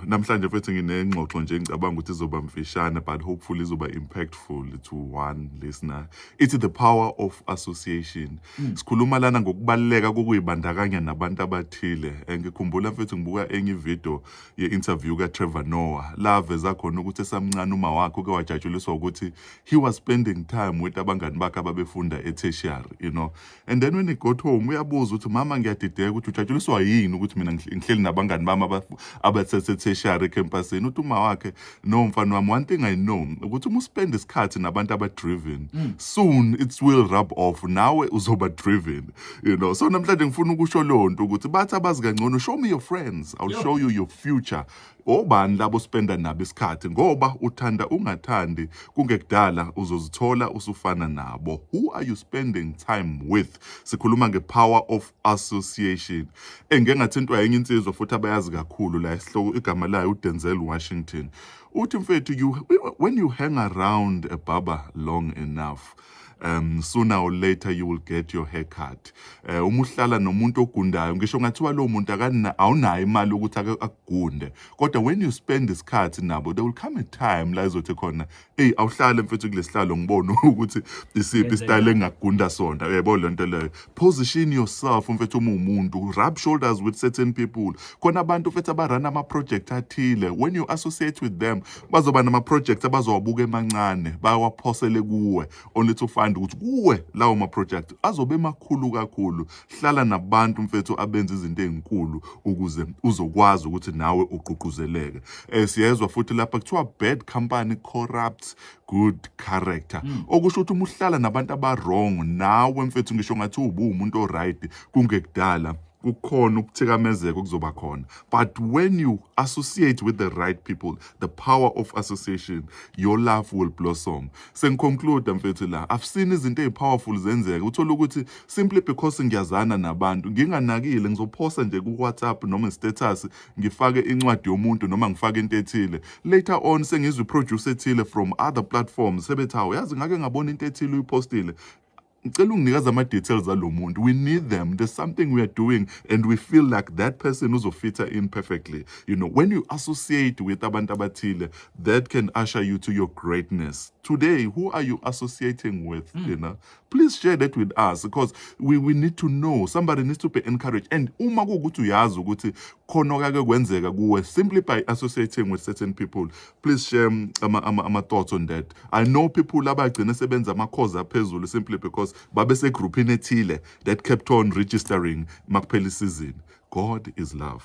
Namhlanje mfethu nginengxoxo nje ngicabanga ukuthi izoba mfishane but hopefully izoba impactful to one listener. It's the power of association. Mm. Sikhuluma lana ngokubaluleka kokuyibandakanya nabantu abathile. Eh, ngikhumbula mfethu ngibuka enye video ye-interview kaTrevor Noah la veza khona ukuthi esamncane uma wakhe uke wajatshuliswa ukuthi he was spending time with abangani bakhe ababefunda e-tertiary, you know. and then when he got home uyabuza ukuthi mama ngiyadideka ukuthi ujatshuliswa yini ukuthi mina ngihleli nabangani bami abaseseteshari ecampusini uthi uma wakhe no mfana wami one thing i know ukuthi uma uspend isikhathi nabantu abadriven mm. soon it will rub off nawe uzoba driven you know so namhlanje ngifuna ukusho leyo nto ukuthi bathi abazi kangcono show me your friends i'll Yo. show you your future Obani labo spenda nabo isikhathi ngoba uthanda ungathandi kungekudala uzozithola usufana nabo. Who are you spending time with? Sikhuluma nge power of association. Engike ngathintwa yenye insizwa futhi abayazi kakhulu la isihloko igama layo uDenzel Washington. Uthi mfethu you when you hang around a barber long enough um sooner or later you will get your haircut eh uma uhlala nomuntu ogundayo ngisho ngathiwa lo muntu akana awunayo imali ukuthi ake akugunde kodwa when you spend isikhathi nabo there will come a time la izothi khona hey awuhlale mfethu kulesihlalo ngibone ukuthi isiphi style engagunda sona uyayibona lento leyo position yourself mfethu uma umuntu rub shoulders with certain people khona abantu mfethu abarun ama-project athile when you associate with them bazoba nama-project abazowabuka emancane bawaphosele kuwe only to find ukuthi kuwe lawo ma-project azobe emakhulu kakhulu hlala nabantu mfethu abenza izinto ezinkulu ukuze uzokwazi ukuthi nawe ugqugquzeleke um siyezwa futhi lapha kuthiwa bad company corrupt good character mm. okusho ukuthi uma uhlala nabantu abawrong nawe mfethu ngisho ngathi ubuwumuntu oright kungekudala kukhona ukuthikamezeka okuzoba khona but when you associate with the right people the power of association your love will blossom sengiconclude mfethu la i've seen izinto ezipowerful zenzeka uthola ukuthi simply because ngiyazana nabantu nginganakile ngizophosa nje ku WhatsApp noma status ngifake incwadi yomuntu noma ngifake into ethile later on sengizwe producer ethile from other platforms sebethi hawu yazi ngake ngabona into ethile uyipostile ngicela unginikeza ama details alo muntu we need them there's something we are doing and we feel like that person uzofitha in perfectly you know when you associate with abantu abathile that can usher you to your greatness today who are you associating with mm. you know please share that with us because we, we need to know somebody needs to be encouraged and uma kuwukuthi uyazi ukuthi khona okake kwenzeka kuwe simply by associating with certain people please share um, ama, ama, ama thoughts on that i know people abagcine sebenza amakhozi aphezulu simply because babesegruphini ethile that kept on registering makuphela isizini god is love